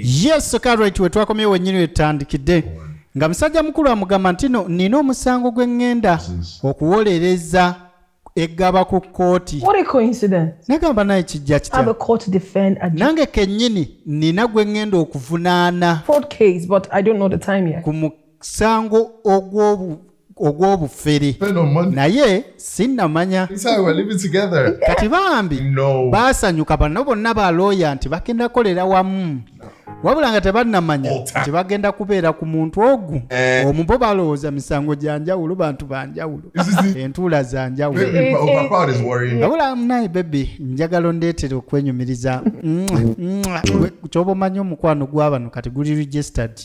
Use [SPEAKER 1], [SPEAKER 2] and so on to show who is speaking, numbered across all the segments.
[SPEAKER 1] yes karit
[SPEAKER 2] wetwakomyewo wenyini wetutandikidde nga musajja mukulu amugamba nti no nina omusango gwe ŋŋenda okuwolereza eggaba ku kkooti
[SPEAKER 3] nagamba naye kijja
[SPEAKER 2] kitanange
[SPEAKER 3] kennyini
[SPEAKER 2] nina gwe ŋŋenda okuvunaana
[SPEAKER 3] ku
[SPEAKER 2] musango ogw'obufere naye sinnamanya kati bambi baasanyuka bano bonna ba looya nti bagenda kukolera wamu wabula nga tebannamanya nti bagenda kubeera ku muntu ogu eh. omu bo balowooza misango gya njawulo bantu ba njawulo entuula za njawulo eh, eh, wabula naye bebi njagala ondeetera okwenyumiriza kyoba omanyi omukwano gwabano kati guli registered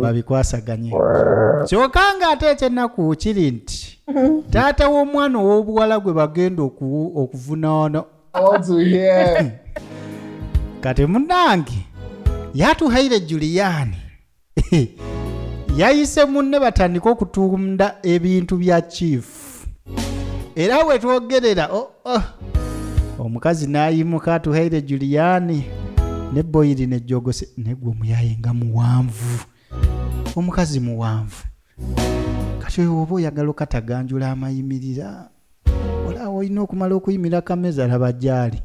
[SPEAKER 2] babikwasaganye kyoka nga ate ekyennaku kiri nti taata w'omwana ow'obuwala gwe bagenda okuvunaana kati munange yatuhaire juliyaani yayise munne batandika okutunda ebintu bya chief era we twogerera oh, oh. omukazi n'ayimuka atuhaire juliyaani ne boyiri ne jogose negwe omuyaye nga muwanvu omukazi muwanvu kati oyo oba oyagala okataganjula amayimirira olaba olina okumala okuyimira kameza laba gyali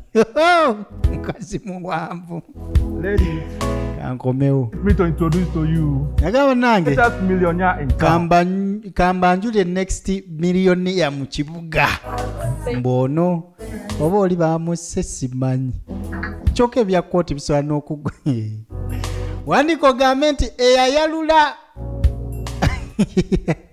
[SPEAKER 2] mukazi muwanvu
[SPEAKER 4] kankomewo nagamba nange kambanjule
[SPEAKER 2] next millionia mu kibuga mbwono oba oli bamusse simanyi kyoka ebya kooti bisobola n'okugwa wandika ogambe nti eyayalula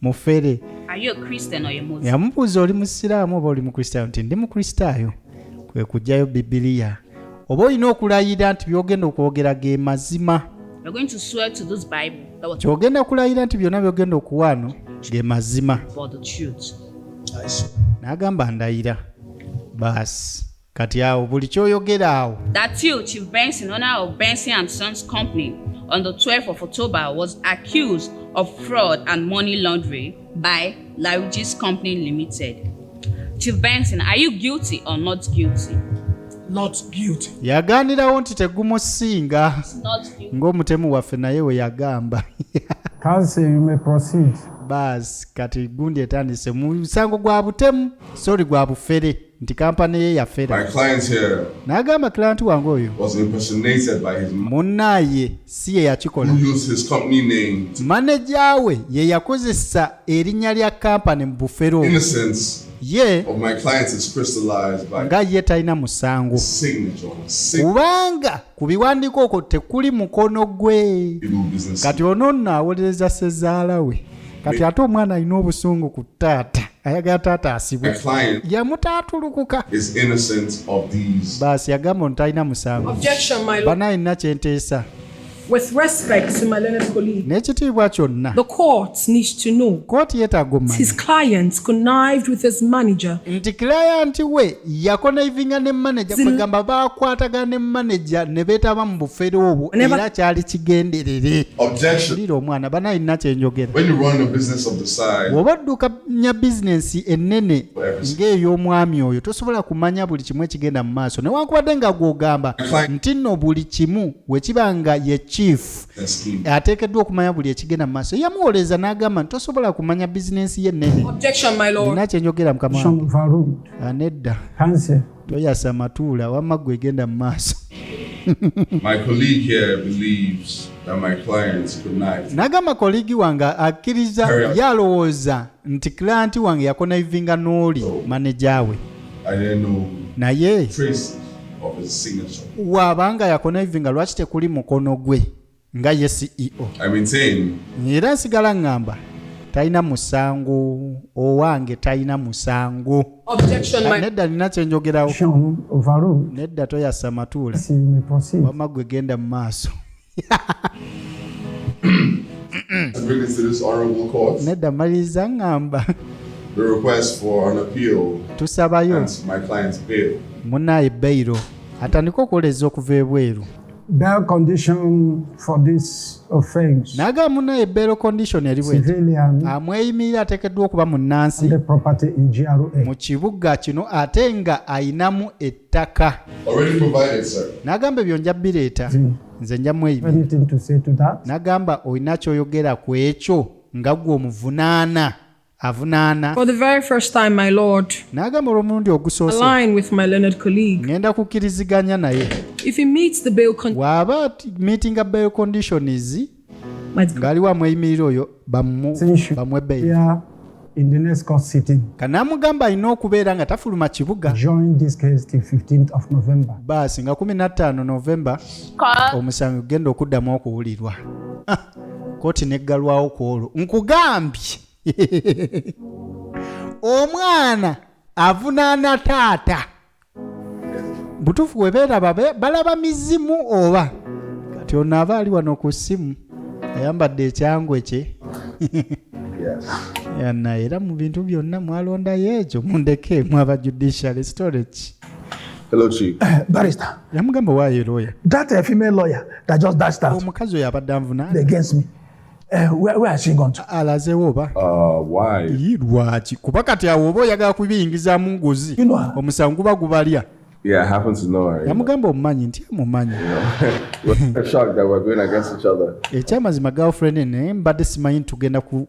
[SPEAKER 2] mufere
[SPEAKER 5] yamubuuza oli musiraamu
[SPEAKER 2] oba oli mukristaayo nti ndi mukristaayo kwe kugjayo bibiliya oba olina okulayira nti byogenda okwogera ge mazima
[SPEAKER 5] kyogenda kulayira nti byonna
[SPEAKER 2] byogenda okuwaano ge mazima n'agamba ndayira baasi Kati awo buli kyoyogera awo. That you, Chief
[SPEAKER 5] Benson, owner of Benson and Sons Company, on the 12th of October was accused of fraud and money laundering by Laruji's Company Limited. Chief Benson, are you guilty or not guilty? Not
[SPEAKER 6] guilty. Yaganirawo nti
[SPEAKER 2] tegumusinga
[SPEAKER 5] ng'omutemu waffe naye we
[SPEAKER 2] yagamba. Kansi
[SPEAKER 6] you may proceed. Bas
[SPEAKER 2] kati gundi etandise musango gwa butemu sorry gwa bufere. nti kampani ye yafera
[SPEAKER 1] n'agamba kilanti
[SPEAKER 2] wange oyo
[SPEAKER 1] munnaaye
[SPEAKER 2] si ye yakikola
[SPEAKER 1] maneja we ye
[SPEAKER 2] yakozesa erinnya lya kampani mu bufero ye
[SPEAKER 1] nga ye talina musango kubanga
[SPEAKER 2] ku biwandiiko okwo tekuli mukono gwe kati
[SPEAKER 1] ono nno awolereza
[SPEAKER 2] sezaala we kati ate omwana alina obusungu ku taata ayagala taata asibwe
[SPEAKER 1] yamutaatulukuka baasi yagamba ono talina
[SPEAKER 2] musango bana
[SPEAKER 3] alina kyenteesa n'ekitiibwa kyonna kooti
[SPEAKER 2] yetagomanya
[SPEAKER 3] nti kilayanti
[SPEAKER 2] we yakonaivinga ne manaja kwegamba bakwatagana ne manaja ne beetaba mu bufere obwo era kyali kigenderere lira
[SPEAKER 1] omwana bana alina
[SPEAKER 2] kyenjogera
[SPEAKER 1] bw'oba oddukanya
[SPEAKER 2] bizinensi ennene ng'ey'omwami oyo tosobola kumanya buli kimu ekigenda mu maaso newankubadde nga gw'ogamba nti nno buli kimu wekiba nga ye chief ateekeddwa
[SPEAKER 1] okumanya buli
[SPEAKER 2] ekigenda mu maaso yamuwoleeza n'agamba nti tosobola kumanya bizinensi ye nnene alina
[SPEAKER 3] kyenjogera mukama
[SPEAKER 2] Ah, nedda toyasa matuula
[SPEAKER 6] wamma
[SPEAKER 2] gwe egenda mu maaso
[SPEAKER 1] nagamba koligi
[SPEAKER 2] wange akkiriza ye alowooza nti kilanti wange yakonaivinga n'oli maneja we
[SPEAKER 1] naye waabanga yakonaivinga
[SPEAKER 2] lwaki tekuli mukono gwe nga ye ceo
[SPEAKER 1] era nsigala
[SPEAKER 2] ŋŋamba talina musango owange talina musango ah, nedda nina kyenjogerawo
[SPEAKER 6] nedda toyasa
[SPEAKER 2] matuula wama
[SPEAKER 6] gwe genda mu
[SPEAKER 2] maaso
[SPEAKER 1] nedda maliriza
[SPEAKER 2] ŋŋamba
[SPEAKER 1] tusabayo munaye beyiro
[SPEAKER 2] atandika okuwoleza okuva ebweru Bail
[SPEAKER 6] condition for this offense. Naga muna ye bail
[SPEAKER 2] condition yali bwe. Civilian. Amweyimirira
[SPEAKER 6] atekeddwa
[SPEAKER 2] okuba munnansi. The property in
[SPEAKER 6] GRA. Mu kibuga
[SPEAKER 2] kino ate nga ayinamu ettaka. Already provided
[SPEAKER 1] sir. Nagamba ebyo nja
[SPEAKER 2] bireeta. Nze nja mweyimirira. Anything to say to that?
[SPEAKER 6] Nagamba olina
[SPEAKER 2] kyoyogera ku ekyo nga gwe omuvunaana. avunaana
[SPEAKER 3] n'agamba olw'omulundi
[SPEAKER 2] ogusooseŋŋenda
[SPEAKER 3] kukkiriziganya
[SPEAKER 2] naye
[SPEAKER 3] bw'aba meetinga
[SPEAKER 2] bail conditions ng'aliwo amweyimirira oyo bamwe bail
[SPEAKER 6] kanamugamba alina
[SPEAKER 2] okubeera nga tafuluma kibuga
[SPEAKER 6] baasi nga 15
[SPEAKER 2] novemba omusango gugenda okuddamu okuwulirwa kooti neggalwawo ku olwo nkugambye omwana avunaana taata butuufu webeeraba balaba mizimu oba kati ono aba ali wano ku ssimu ayambadde ekyangwe kye yana era mu bintu byonna mwalondayo ekyo mundeke mwaba judiciary storage Hello,
[SPEAKER 1] Chief. Eh, barrister. Yamugamba
[SPEAKER 6] why a
[SPEAKER 2] lawyer? That a female lawyer
[SPEAKER 6] that just dashed out. Omukazi oyo abadde anvunaana.
[SPEAKER 2] Against me.
[SPEAKER 6] Uh, where, where has she gone to? Alazewo oba. Uh,
[SPEAKER 2] why? Yi
[SPEAKER 1] lwaki? Kuba
[SPEAKER 2] kati awo oba oyagala kubiyingizaamu ngozi. You know her. Omusango guba
[SPEAKER 6] gubalya.
[SPEAKER 2] Yeah, I happen to
[SPEAKER 1] know her. Yamugamba omumanyi nti
[SPEAKER 2] amumanyi. We're
[SPEAKER 1] shocked that we're going against each other. Ekyamazima girlfriend
[SPEAKER 2] ne mbadde simanyi tugenda ku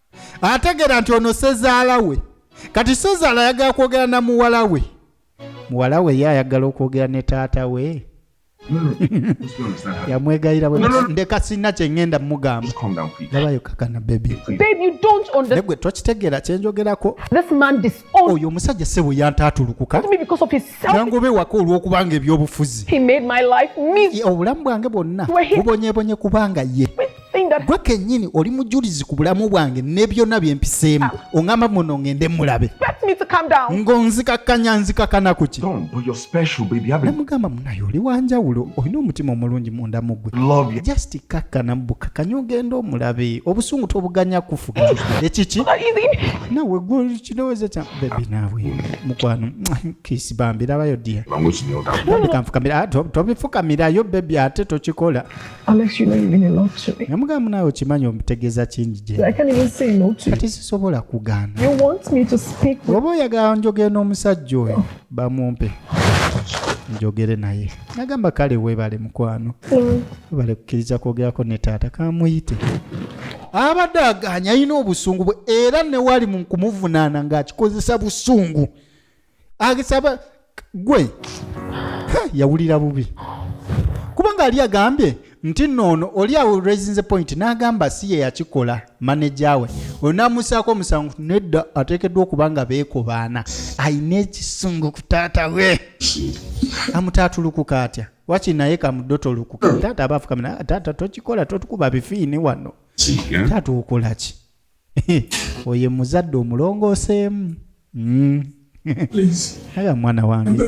[SPEAKER 2] ategeera nti ono sezaala we kati sezaala ayagala kwogera na muwala we muwala we ye ayagala okwogera ne taata we yamwegayira ndeka sirina kyengenda mugamba labayo
[SPEAKER 1] kakana
[SPEAKER 2] bebigwe
[SPEAKER 3] tokitegeera
[SPEAKER 2] kyenjogerako
[SPEAKER 3] oyo omusajja sebo
[SPEAKER 2] yantatulukuka
[SPEAKER 3] nangoba ewaka olwokubanga
[SPEAKER 2] ebyobufuzi
[SPEAKER 3] obulamu bwange bwonna
[SPEAKER 2] bubonyebonye kubanga ye gwe
[SPEAKER 3] kenyini oli mujulizi
[SPEAKER 2] ku bulamu bwange ne byonna bye mpiseemu ah. oŋamba muno ŋende mulabe
[SPEAKER 3] ng'onzikakkanya
[SPEAKER 2] nzikakana ku ki
[SPEAKER 7] namugamba munaye oli
[SPEAKER 2] wanjawulo olina omutima omulungi munda mu gwe just
[SPEAKER 7] kakkana
[SPEAKER 2] bukakanya ogenda omulabe obusungu tobuganya kufuga ekiki
[SPEAKER 3] nawe gwe
[SPEAKER 2] kirowooza kya bebi naawe mukwano kisi bambi labayo dia tobifukamirayo bebi ate tokikola Alex, you know you mean
[SPEAKER 3] a lot to me. Namugamba nawe okimanyi
[SPEAKER 2] omutegeeza kingi gye. I can't even say no to you.
[SPEAKER 3] Kati sisobola kugaana.
[SPEAKER 2] You want me to
[SPEAKER 3] speak with... Oba oyagala njogere
[SPEAKER 2] n'omusajja oyo bamumpe njogere naye. Nagamba kale weebale mukwano. Mm. Weebale kukkiriza kwogerako ne taata kamuyite. Abadde agaanya alina obusungu bwe era ne wali mu kumuvunaana ng'akikozesa busungu. agisaba gwe yawulira bubi kubanga ali agambye nti noono oli awo raisinze point n'agamba si ye yakikola maneja we oyo n'amusaako omusango nedda ateekeddwa okuba nga beekobaana alina ekisungu ku taata we amutaatulukuka atya waki naye kamudotolukuka taata abaafukamina taata tokikola totukuba bifiini wano taata okolaki oye muzadde omulongooseemu mm.
[SPEAKER 6] aya mwana wange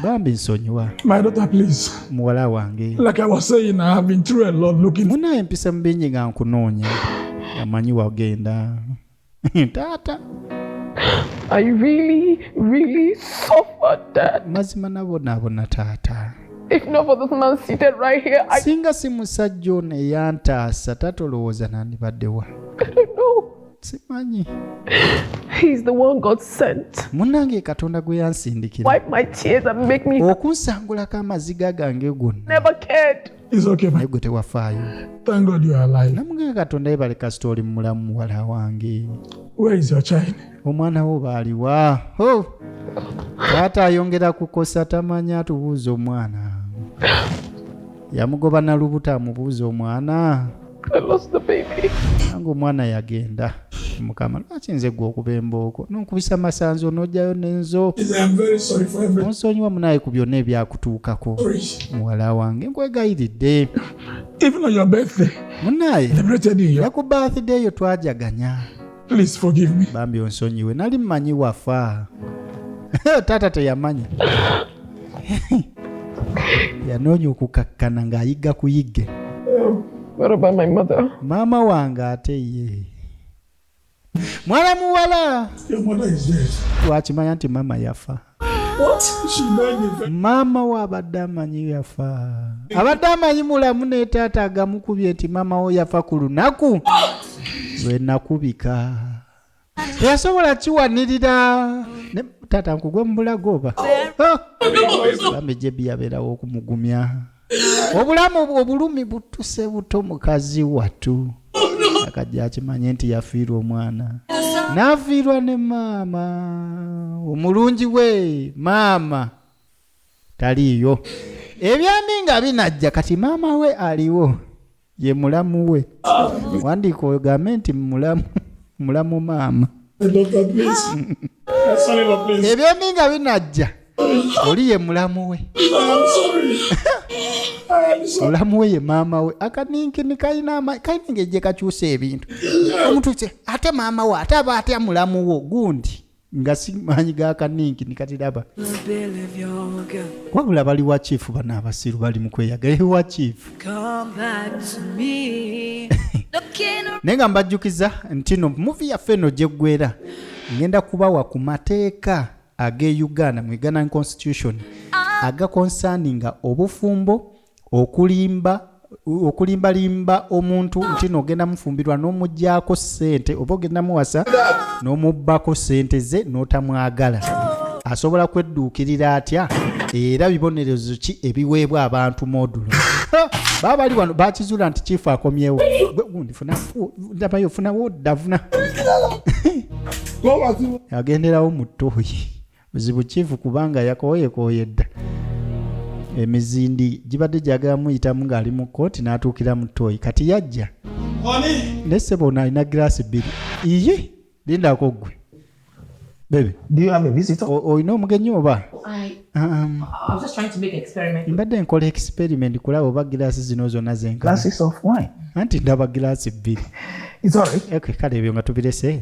[SPEAKER 2] bambi
[SPEAKER 6] nsonyiwa muwala wange munaye empisa mubingi
[SPEAKER 2] nga nkunoonya amanyi wagenda
[SPEAKER 3] taata mazima
[SPEAKER 2] nabonaabona
[SPEAKER 3] taata If not for this man seated right here, I... singa si musajja
[SPEAKER 2] ono eyantaasa taata olowooza nandibaddewa
[SPEAKER 3] simanyi munnange katonda
[SPEAKER 2] gwe yansindikira
[SPEAKER 3] okunsangulako amaziga
[SPEAKER 2] gange gonna
[SPEAKER 3] naye gwe
[SPEAKER 6] tewafaayo namuganga katonda yebale
[SPEAKER 2] kasita oli mulamu muwala wange
[SPEAKER 6] omwana wo baaliwa
[SPEAKER 2] taata ayongera kukosa tamanya atubuuza omwana yamugoba nalubuto amubuuza omwana
[SPEAKER 3] nange omwana
[SPEAKER 2] yagenda mukama lwaki nze gwe okuba embooko nonkubisa masanzo nojayo nenzo
[SPEAKER 6] onsonyiwa munaye ku byonna
[SPEAKER 2] ebyakutuukako muwala wange nkwegayiridde
[SPEAKER 6] munaye
[SPEAKER 2] ne ku
[SPEAKER 6] birthday yo
[SPEAKER 2] twajaganya Please forgive
[SPEAKER 6] me. Bambi onsonyiwe. Nali
[SPEAKER 2] mmanyi wafa. Taata teyamanya. Yanoonya okukakkana ng'ayigga ku yigge. Um, what
[SPEAKER 3] about my mother? Maama wange
[SPEAKER 2] ate ye. Mwana muwala. Your mother
[SPEAKER 6] is dead. Twakimanya nti maama
[SPEAKER 2] yafa.
[SPEAKER 6] maama we abadde
[SPEAKER 2] amanyi yafa abadde amanyi mulamu ne taata agamukubye nti maama wo yafa ku lunaku lwe nakubika teyasobola kiwanirira taata nkugwe mu bulago oba bambi jebi yabeerawo okumugumya obulamu obulumi butuse buto mukazi watu akajja akimanye nti yafiirwa omwana n'afiirwa ne maama omulungi we maama taliiyo ebyami nga binajja kati maama we aliwo ye mulamu we wandiika ogambe nti mulamu mulamu maama
[SPEAKER 6] ebyombi nga binajja
[SPEAKER 2] oli ye mulamu we mulamu we ye maama we akaninkini kalina kalina engeri gyekakyusa ebintu omuntu ate maama we ate aba atya mulamu wo gundi nga si maanyi ga kaninki nikatiraba wabula bali wa chief bana abasiru bali mu kweyagala ewa chief naye nga mbajjukiza ntino muvi yaffe eno gyeggwera ngenda kubawa ku mateeka ag'e uganda mu uganda constitution agakonsaninga obufumbo okulimba okulimbalimba omuntu nti no ogenda mufumbirwa n'omugyako ssente oba ogenda muwasa n'omubbako ssente ze n'otamwagala asobola kwedduukirira atya era bibonerezo ki ebiweebwa abantu modulo baba bali wano bakizuula nti kiifu akomyewo ndabayo funawo ddavuna agenderawo mu ttooyi Buzibu kifu kubanga yakooyekooye dda. Emizindi gibadde gyagala muyitamu ng'ali mu kkooti n'atuukira mu ttooyi kati yajja. Naye ssebo ono alina giraasi bbiri. Iye lindako ggwe. Baby. Do you have a
[SPEAKER 6] visitor? Olina omugenyi oba?
[SPEAKER 8] Um, mbadde nkola experiment
[SPEAKER 2] kulaba oba giraasi zino zonna zenkana.
[SPEAKER 6] Anti ndaba giraasi
[SPEAKER 2] bbiri.
[SPEAKER 6] Kale ebyo nga tubirese.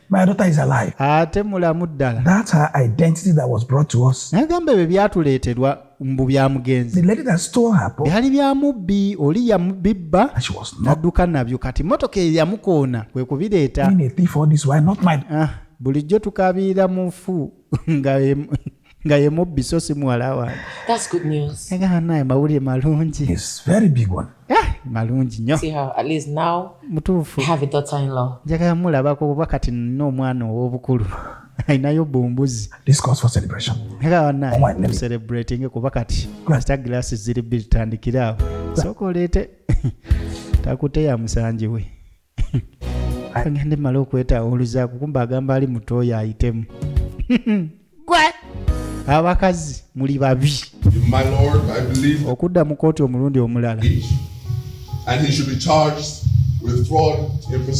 [SPEAKER 2] My daughter is alive.
[SPEAKER 6] Ate mulamu
[SPEAKER 2] ddala. That's her identity
[SPEAKER 6] that was brought to us. Nagamba ebyo byatuleeterwa
[SPEAKER 2] mbu bya mugenzi. The lady that stole her
[SPEAKER 6] book. Byali bya mubbi
[SPEAKER 2] oli yamubibba n'adduka
[SPEAKER 6] nabyo kati
[SPEAKER 2] mmotoka eyamukoona kwe kubireeta. Being a thief all this while
[SPEAKER 6] not my. Ah, bulijjo
[SPEAKER 2] tukabiira mufu nga nga ye mubbi so si muwala wange
[SPEAKER 8] agamba naye mawulire
[SPEAKER 2] malungi eh,
[SPEAKER 6] malungi nyo
[SPEAKER 8] mutuufu njagala mulabako
[SPEAKER 2] oba kati nina omwana ow'obukulu ayinayo bumbuzi celebrating
[SPEAKER 6] kuba kati
[SPEAKER 2] kasita glassi ziri bitandikire awo sooka oleete takuteya musangi we agende mala okwetaawa oluzaako kumba agamba ali mutooyo ayitemu gwe abakazi muli babi
[SPEAKER 1] okudda mu kooti omulundi
[SPEAKER 2] omulala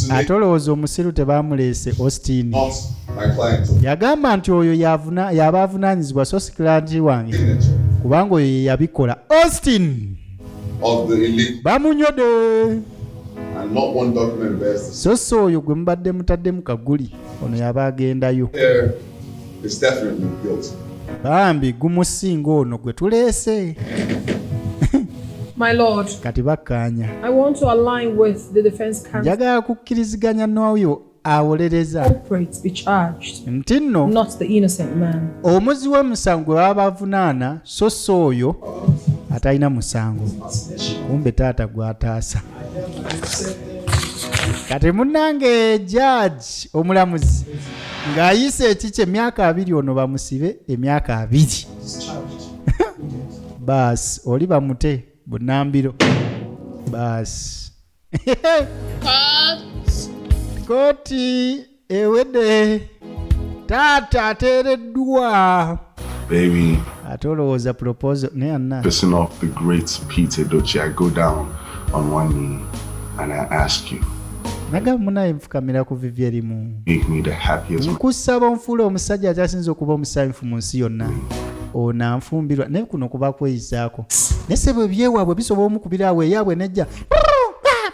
[SPEAKER 1] ate
[SPEAKER 2] olowooza
[SPEAKER 1] omusiru
[SPEAKER 2] tebamuleese austin
[SPEAKER 1] yagamba nti oyo
[SPEAKER 2] yaba avunaanyizibwa so sikilanti wange kubanga
[SPEAKER 1] oyo
[SPEAKER 2] yeyabikola
[SPEAKER 1] austin of the elite.
[SPEAKER 2] Bamunyode.
[SPEAKER 1] And not one document bears this. So so oyo gwe mubadde
[SPEAKER 2] mutaddemu kaguli ono yaba agendayo. There
[SPEAKER 1] is definitely guilt. Bambi
[SPEAKER 2] gumusinga ono gwe tuleese.
[SPEAKER 3] My Lord, kati bakkaanya njagala kukkiriziganya
[SPEAKER 2] n'oyo awolereza
[SPEAKER 3] nti nno omuzi w'omusango
[SPEAKER 2] gwe baba bavunaana so si oyo atalina musango kumbe taata gwataasa kati munange jaji omulamuzi ng'ayise ekiki emyaka abiri ono bamusibe emyaka abiri baasi oli bamute bunambiro baasi koti ewedde taata ateereddwa Baby,
[SPEAKER 7] ate olowooza
[SPEAKER 2] proposal naye anna pissing off the great
[SPEAKER 7] Peter Doce, I go down on one knee and I ask you. nagamba munaye
[SPEAKER 2] nfukamira ku vivi erimu
[SPEAKER 7] nkusaba onfuula
[SPEAKER 2] omusajja akyasinza okuba omusanyufu mu nsi yonna onanfumbirwa naye kuno kuba kweyizaako naye sebo ebyewaabwe bisobola omukubira awo eyaabwe nejja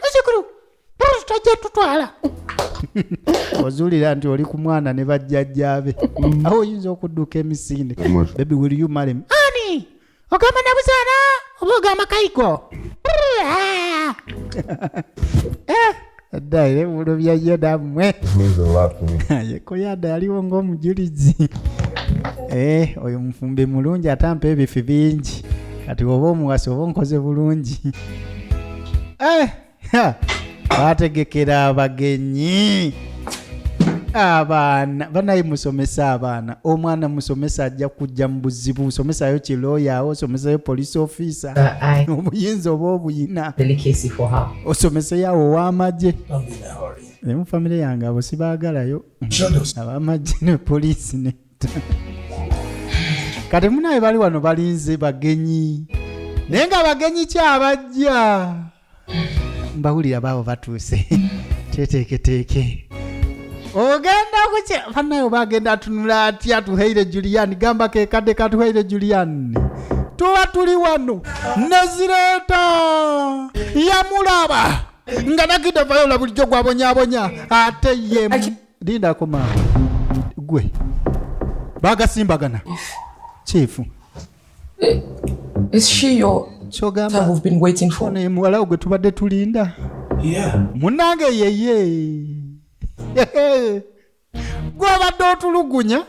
[SPEAKER 2] muzukulu tajja tutwala ozulira nti oli ku mwana ne bajjajjaabe mm. awo oyinza okudduka emisinde bebi will you marry me ani ogamba nabuzaala oba ogamba kayigo ah. eh. Adda era ebibulo bya Yoda mmwe. Yeko Yoda yaliwo ng'omujulizi. Eh, oyo mufumbi mulungi ate ampa ebifi bingi. Kati oba omuwasi oba onkoze bulungi. Eh, ha! Bategekera abagenyi. abaana banaye musomese abaana omwana musomese ajja kujja mu buzibu somesayo kiloyawo somesayo police officer uh, obuyinza oba obuyina osomeseyo awo owamagye emu famire yange abo sibagalayo abamagye ne poliisi ne kati munaye bali wano balinze bagenyi naye nga bagenyi kyabajja mbawulira baabo batuuse teteeketeeke ogenda kuki banaye oba agenda atunula atya tuheire julian gamba kekadde katuheire julian tuba tuli wano nezireeta yamulaba nga nagidde vayola bulijjo gwabonyabonya ate ye lindako maama gwe bagasimbagana kyefu
[SPEAKER 8] Eh, is she your kyogamba we've been
[SPEAKER 2] waiting for
[SPEAKER 8] ne muwala ogwe tubadde
[SPEAKER 2] tulinda yeah munange yeye gwabadde otulugunya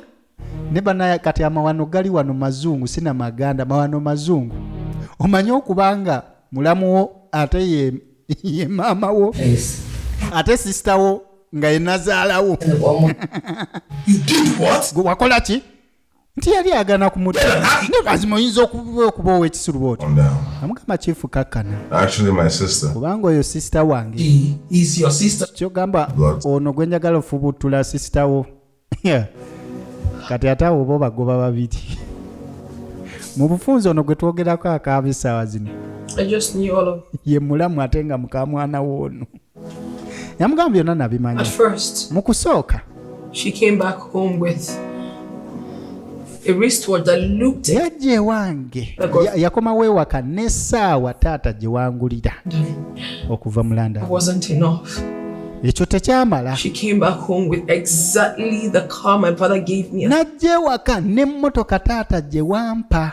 [SPEAKER 2] ne banaya kati amawano gali wano mazungu sina maganda mawano mazungu omanye okubanga mulamu wo ate ye, ye maama wo yes. ate sisita wo nga yenazaalawo wakola ki nti yali agana kumudamazima oyinza okuba owekisuluba otyo amugamba kifu kakkana
[SPEAKER 1] kubanga oyo sisita
[SPEAKER 2] wange
[SPEAKER 6] kyogamba
[SPEAKER 2] ono gwe njagala ofubuttula sisita wo kati ate awo oba obagoba babiri mu bufunzi ono gwe twogerako akaaba essaawa zino
[SPEAKER 3] ye mulamu ate nga
[SPEAKER 2] mukamwana woono yamugamba byonna nabimanya
[SPEAKER 3] mu
[SPEAKER 2] kusooka
[SPEAKER 3] yajja ewange
[SPEAKER 2] yakomawo ewaka n'essaawa taata gye wangulira okuva mu landa
[SPEAKER 3] ekyo
[SPEAKER 2] tekyamala
[SPEAKER 3] n'ajja ewaka
[SPEAKER 2] n'emmotoka taata gye wampa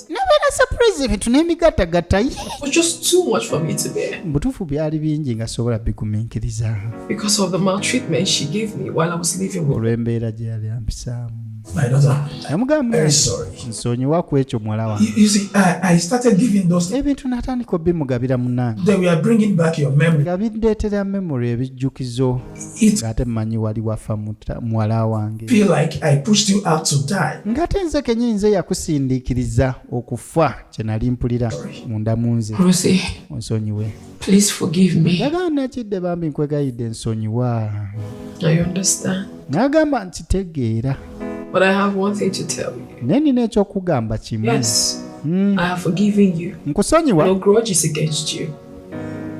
[SPEAKER 3] nabeera surprise
[SPEAKER 2] ebintu n'emigattagatta
[SPEAKER 3] mubutuufu byali bingi
[SPEAKER 2] nga sobola bigumiikiriza
[SPEAKER 3] olw'embeera gye yali
[SPEAKER 2] ampisaamu
[SPEAKER 6] yamugamba nsonyiwa ku ekyo
[SPEAKER 2] muwala wangeebintu
[SPEAKER 6] natandika
[SPEAKER 2] obimugabira munange nga
[SPEAKER 6] bindeetera
[SPEAKER 2] memory ebijjukizo ngate
[SPEAKER 6] mmanyi wali
[SPEAKER 2] wafa muwala wange
[SPEAKER 6] ngate nze kenyini nze
[SPEAKER 2] yakusindiikiriza okufa kye nali mpulira munda mu nze onsonyiwe
[SPEAKER 3] yagaana kidde bambi
[SPEAKER 2] nkwegayidde nsonyiwa
[SPEAKER 3] nagamba nti tegeera naye
[SPEAKER 2] nina
[SPEAKER 3] ekyokugamba kimu
[SPEAKER 8] hmm. nkusonyiwa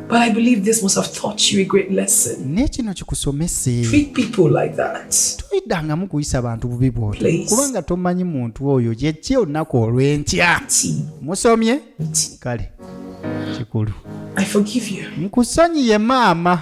[SPEAKER 8] But I believe this must have taught you a great lesson. Ne kino kikusomese.
[SPEAKER 2] Treat people like
[SPEAKER 8] that. Toyidangamu kuyisa
[SPEAKER 2] bantu bubi bw'otyo. Kubanga tomanyi
[SPEAKER 8] muntu
[SPEAKER 2] oyo gye ki olunaku olw'enkya. Musomye? Kale. Kikulu. I forgive
[SPEAKER 8] you. Nkusonyiye maama.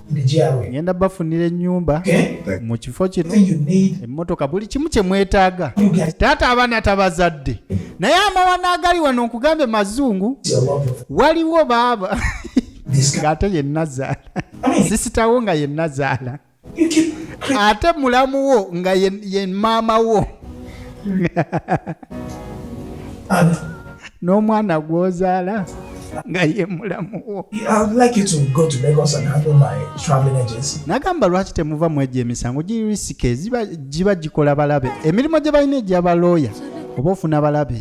[SPEAKER 6] ngenda bafunira
[SPEAKER 2] enyumba mu kifo
[SPEAKER 6] kino
[SPEAKER 2] emmotoka
[SPEAKER 6] buli kimu kye
[SPEAKER 2] mwetaaga taata abaana
[SPEAKER 6] tabazadde
[SPEAKER 2] naye amawana agali wano nkugambe mazungu
[SPEAKER 6] waliwo baaba
[SPEAKER 2] ng'ate
[SPEAKER 6] ye nazaala
[SPEAKER 2] sisitawo nga ye nazaala
[SPEAKER 6] ate mulamu
[SPEAKER 2] wo nga ye maama wo
[SPEAKER 6] n'omwana
[SPEAKER 2] gw'ozaala nga ye mulamu wo
[SPEAKER 6] nagamba lwaki temuva
[SPEAKER 2] mu egyo emisango giri risike giba gikola balabe emirimu gye balina egya balooya oba ofuna balabe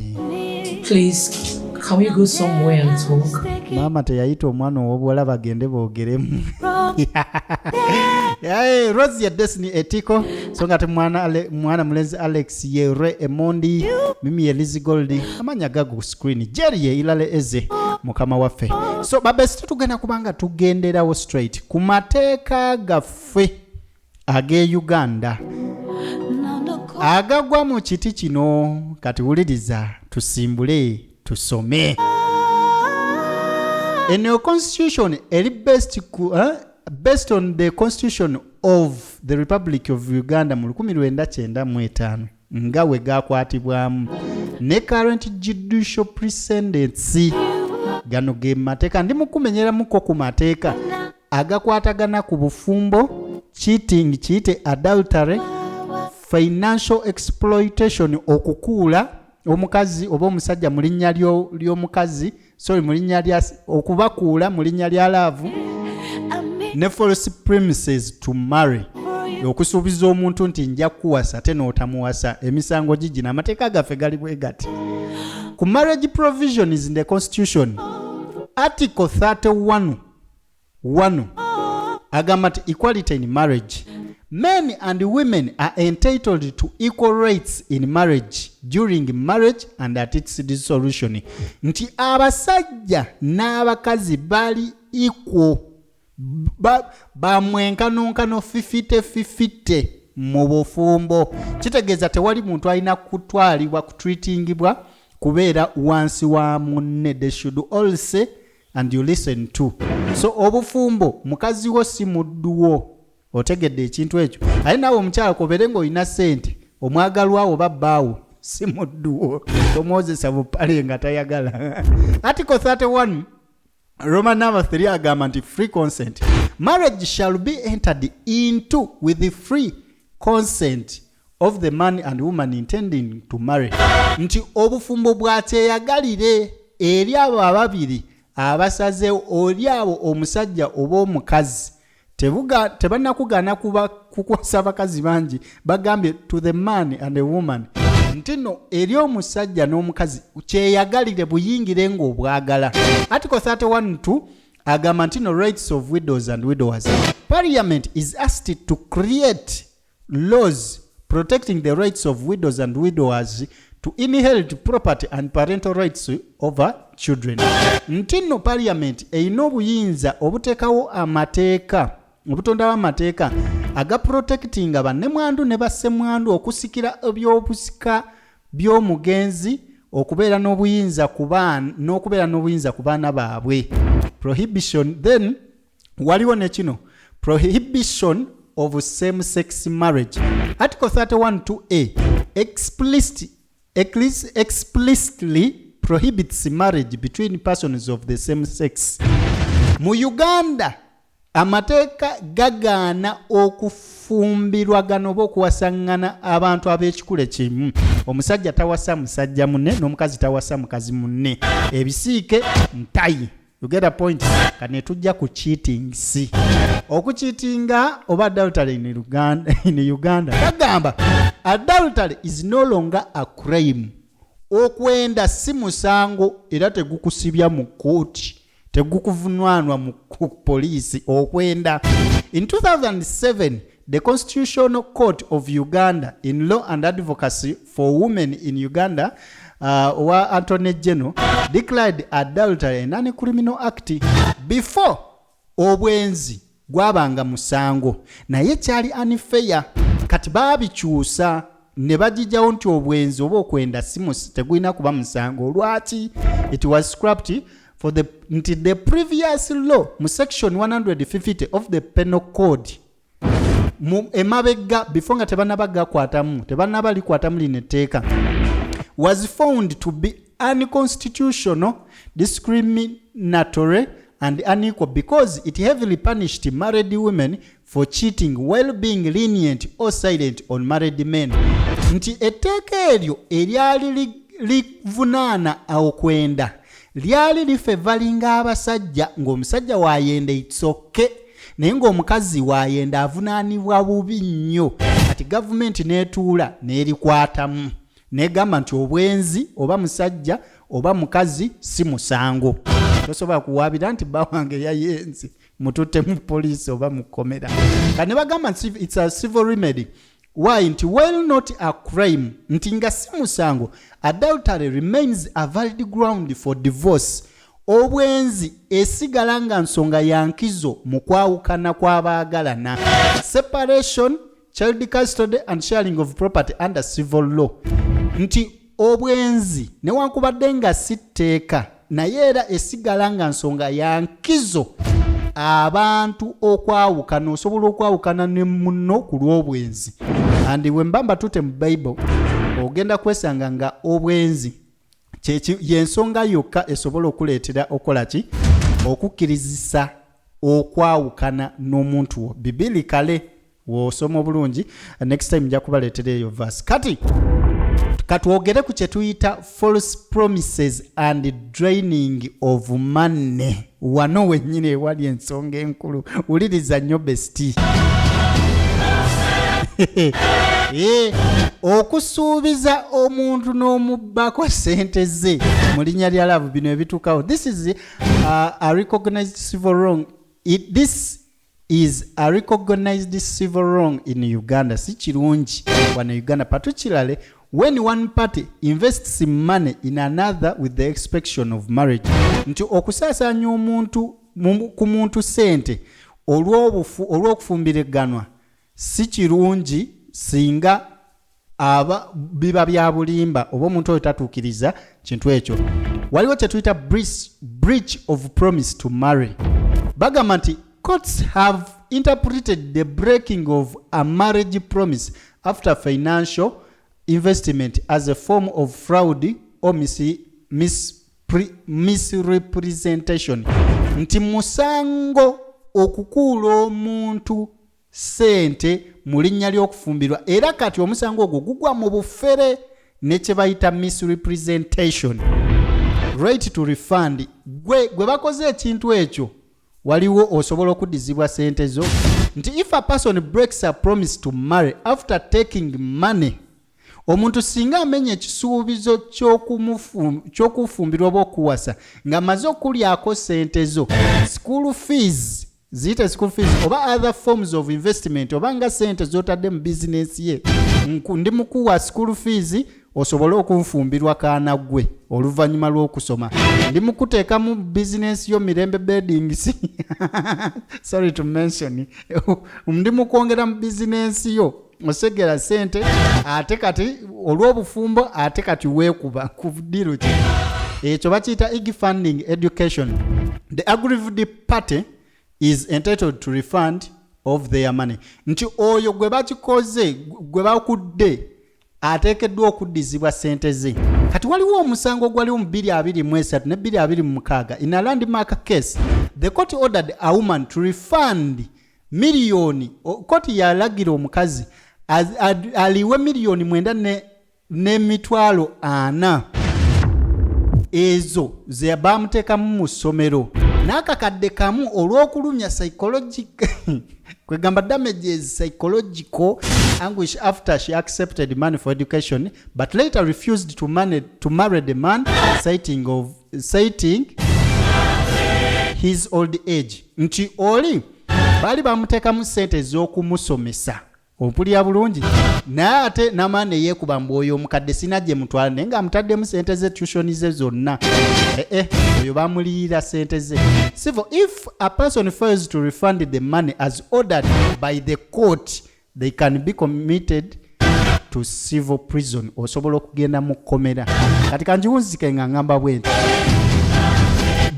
[SPEAKER 8] maama teyayita
[SPEAKER 2] omwana ow'obuwala bagende boogeremu rosi ya desini etiko so nga te mwana mulenzi alex Sierre Emondi, mimi Elizi Gold, amanya gagu screen, Jerry Ilale Eze, mukama wafe. So babesita tugenda kubanga tugenderawo straight ku mateeka gaffe ag'e Uganda agagwa mu kiti kino kati wuliriza tusimbule tusome eno constitution eri best ku eh? based on the constitution of the republic of uganda mu 1995 nga we gakwatibwamu ne current judicial precedence gano ge mateeka ndi mukumenyeramuko ku mateeka agakwatagana ku bufumbo cheating kiyite adultery financial exploitation okukuula omukazi oba omusajja mu linnya ly'omukazi sorry mu linnya lya okubakuula mu linnya lya laavu ne false premises to marry okusuubiza omuntu nti nja kuwasa ate n'otamuwasa emisango gigina amateeka gaffe gali bwe gati ku marriage provisions in the constitution article 31 wano agamba nti equality in marriage men and women are entitled to equal rights in marriage during marriage and at its dissolution nti abasajja n'abakazi bali equal bamwenkanonkano fifite fifite mu bufumbo kitegeeza tewali muntu alina kutwalibwa kutreatingibwa kubeera wansi wa munne they should all say and you listen to so obufumbo mukazi wo si muddu wo otegedde ekintu ekyo aye naawe omukyala kobere nga olina sente omwagalwawo oba bbaawo si muddu wo tomwozesa bupale nga tayagala article 31 Roman number 3 agamba nti free consent marriage shall be entered into with free consent of the man and woman intending to marry nti obufumbo bwakyeyagalire eri abo ababiri abasaze oli abo omusajja oba omukazi tebanakugaana kuba kukwasa abakazi bangi bagambye to the man and the woman nti no eri omusajja n'omukazi kyeyagalire buyingire ng'obwagala article 312 agamba nti no rights of widows and widowers parliament is asked to create laws protecting the rights of widows and widowers to inherit property and parental rights over children nti nno parliament erina obuyinza obuteekawo amateeka obutondawo amateeka aga protectinga bannemwandu ne bassemwandu okusikira ebyobusika by'omugenzi okubeera n'obuyinza n'okubeera n'obuyinza ku baana baabwe prohibition then waliwo ne kino prohibition of same sex marriage article 31 to a explicit, explicitly prohibits marriage between persons of the same sex mu uganda amateeka gagaana okufumbirwagana oba okuwasaŋŋana abantu ab'ekikula kimu omusajja tawasa musajja munne n'omukazi tawasa mukazi munne ebisiike ntayi you get a point kane tujja ku cheating si okucheatinga oba adultery in uganda in uganda kagamba adultery is no longer a crime okwenda si musango era tegukusibya mu kooti tegukuvunwanwa mu poliisi okwenda in 2007 The Constitutional Court of Uganda in Law and Advocacy for Women in Uganda uh, wa Attorney General declared adultery an uncriminal act before obwenzi gwabanga musango naye kyali unfair kati baabikyusa ne bagijawo nti obwenzi oba okwenda simus tegulina kuba musango lwaki it was scrapped for the nti the previous law mu section 150 of the penal code mu emabegga before nga tebanaba gakwatamu tebanaba likwatamu lino etteeka was found to be unconstitutional discriminatory and unequal because it heavily punished married women for cheating while being lenient or silent on married men nti etteeka eryo eryali livunaana okwenda lyali lifevalinga abasajja ng'omusajja wayenda itsoke naye ng'omukazi wayenda avunaanibwa bubi nnyo kati gavumenti n'etuula n'erikwatamu negamba nti obwenzi oba musajja oba mukazi si musango tosobola kuwaabira nti bba wange yayenze mututte mu poliisi oba mu kkomera ka ne bagamba nti its a civil remedy why nti while not a crime nti nga si musango adultery remains a valid ground for divorce obwenzi esigala nga nsonga yankizo mu kwawukana kw'abaagalana separation child custody and sharing of property under civil law nti obwenzi newankubadde nga si tteeka naye era esigala nga nsonga ya nkizo abantu okwawukana osobola okwawukana ne muno ku lw'obwenzi andi bwe mba mbatute mu bible ogenda kwesanga nga obwenzi yensonga yokka esobola okuleetera okukola ki okukkirizisa okwawukana n'omuntu wo bibiri kale wosoma obulungi next time nja kubaleetera eyo vas kati katwogere ku kye tuyita false promises and draining of money wano wennyini ewali ensonga enkulu wuliriza nnyo besti eh, okusuubiza omuntu n'omubbako sente ze mu linnya lya laavu bino ebituukawo this is uh, a recognized civil wrong It, this is a recognized civil wrong in uganda si kirungi wano uganda particularly when one party invests money in another with the expectation of marriage nti okusaasaanya omuntu ku muntu sente olw'okufumbiriganwa si kirungi singa aba biba bya bulimba oba omuntu oyo tatuukiriza kintu ekyo waliwo kye tuyita breach of promise to marry bagamba nti courts have interpreted the breaking of a marriage promise after financial investment as a form of fraud or mis, mis, pre, misrepresentation nti musango okukuula omuntu ssente mu linnya ly'okufumbirwa era kati omusango ogwo gugwa mu bufere ne kye bayita misrepresentation right to refund gwe gwe bakoze ekintu ekyo waliwo osobola okuddizibwa sente zo nti if a person breaks a promise to marry after taking money omuntu singa amenya ekisuubizo ky'okufumbirwa oba okuwasa ng'amaze okulyako sente zo school fees ziyite school fees oba other forms of investment oba nga sente zotadde mu business ye ndi mukuwa school fees osobole okunfumbirwa kaana gwe oluvannyuma lw'okusoma ndi mukuteeka mu business yo mirembe bedings sorry to mention ndi mukwongera mu business yo osegera sente ate kati olw'obufumbo ate kati weekuba ku diro ki ekyo bakiyita ig funding education the agrived party is entitled to refund of their money nti oyo gwe bakikoze gwe bakudde ateekeddwa okuddizibwa sente ze kati waliwo omusango ogwaliwo mu 223 ne 226 in a landmark case the court ordered a woman to refund the miliyoni koti yalagira omukazi aliwe miliyoni mwenda n'emitwalo ne ana ezo ze baamuteekamu mu ssomero n'akakadde kamu olw'okulumya psychologic kwegamba damages psychological anguish after she accepted money for education but later refused to, money, to marry the man citing of citing his old age nti oli baali bamuteekamu sente ez'okumusomesa ompulira bulungi naye ate namaa neyekuba mbu oyo omukadde sina gye mutwala naye nga amutaddemu sente ze tushoni ze zonna ee eh, eh, oyo bamuliyira sente ze sivo if a person fails to refund the money as ordered by the court they can be committed to civil prison osobola okugenda mu kkomera kati kanjiwunzike nga ngamba bwenti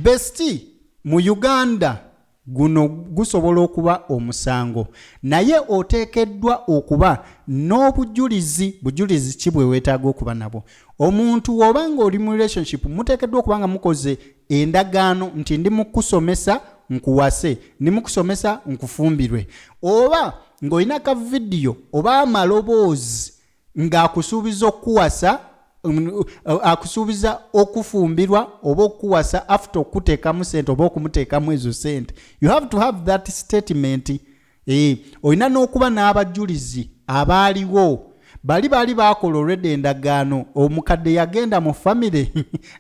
[SPEAKER 2] besti mu uganda guno gusobola okuba omusango naye oteekeddwa okuba n'obujulizi bujulizi ki bwe weetaaga okuba nabwo omuntu woba nga oli mu relationship muteekeddwa okuba nga mukoze endagaano nti ndi mu kukusomesa nkuwase ndi mu kusomesa nkufumbirwe oba ng'olina ka vidiyo oba amaloboozi ng'akusuubiza okukuwasa mm, akusuubiza okufumbirwa oba okukuwasa after okukuteekamu sente oba okumuteekamu ezo sente you have to have that statement Eh, olina n'okuba n'abajulizi abaaliwo bali baali baakola olwedda endagaano omukadde yagenda mu famire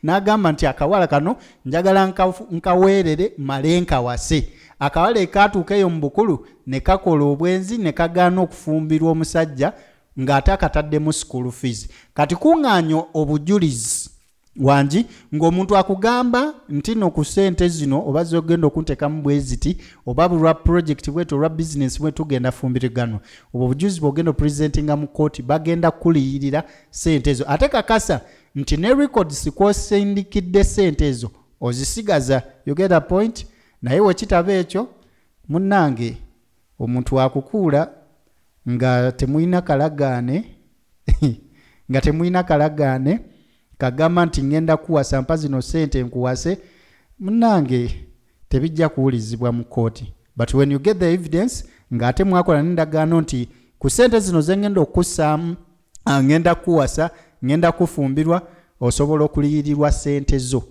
[SPEAKER 2] n'agamba nti akawala kano njagala nkaweerere male nkawase akawala ekaatuuka eyo mu bukulu ne kakola obwenzi ne kagaana okufumbirwa omusajja ng'ate akataddemu school fees kati kuŋŋaanya obujulizi wangi ng'omuntu akugamba nti no ku sente zino oba zogenda okuntekamu bweziti oba bulwa project bwetu olwa bizinesi bwe tugenda fumbiriganwa obwo obujuzi bwogenda opresentinga mu kooti bagenda kukuliyirira sente ezo ate kakasa nti ne records kwosindikidde sente ezo ozisigaza yogera point naye wekitaba ekyo munnange omuntu akukuula nga temulina kalagaane nga temulina kalagaane kagamba nti ŋŋenda kuwasa mpa zino ssente nkuwase munange tebijja kuwulizibwa mu kkooti but when you get the evidence ng'ate mwakola n'endagaano nti ku ssente zino ze ŋŋenda okukussaamu ah, ŋŋenda kukuwasa ŋŋenda kufumbirwa osobola okuliyirirwa ssente zo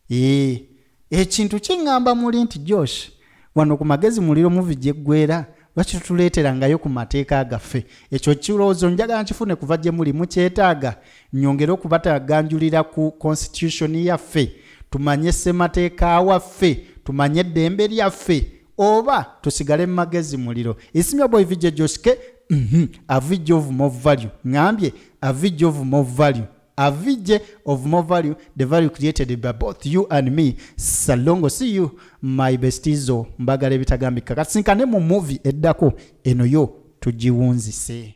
[SPEAKER 2] Eeh ekintu kingamba muli nti Josh wano ku magezi muliro muvi gyeggwera lwaki tutuleeterangayo ku mateeka gaffe ekyo ekirowoozo njagala nkifune kuva gye muli mukyetaaga nyongere okubataganjulira ku constitution yaffe tumanye ssemateeka waffe tumanye eddembe lyaffe oba tusigale mu magezi muliro isimya boy vijje joshke mhm, avijja ovu more value ngambye avijja ovu more value avj of more value the value created by both you and me salongo see you my bestizo mbagala ebitagambika kasinkane mu movie eddako eno yo tugiwunzise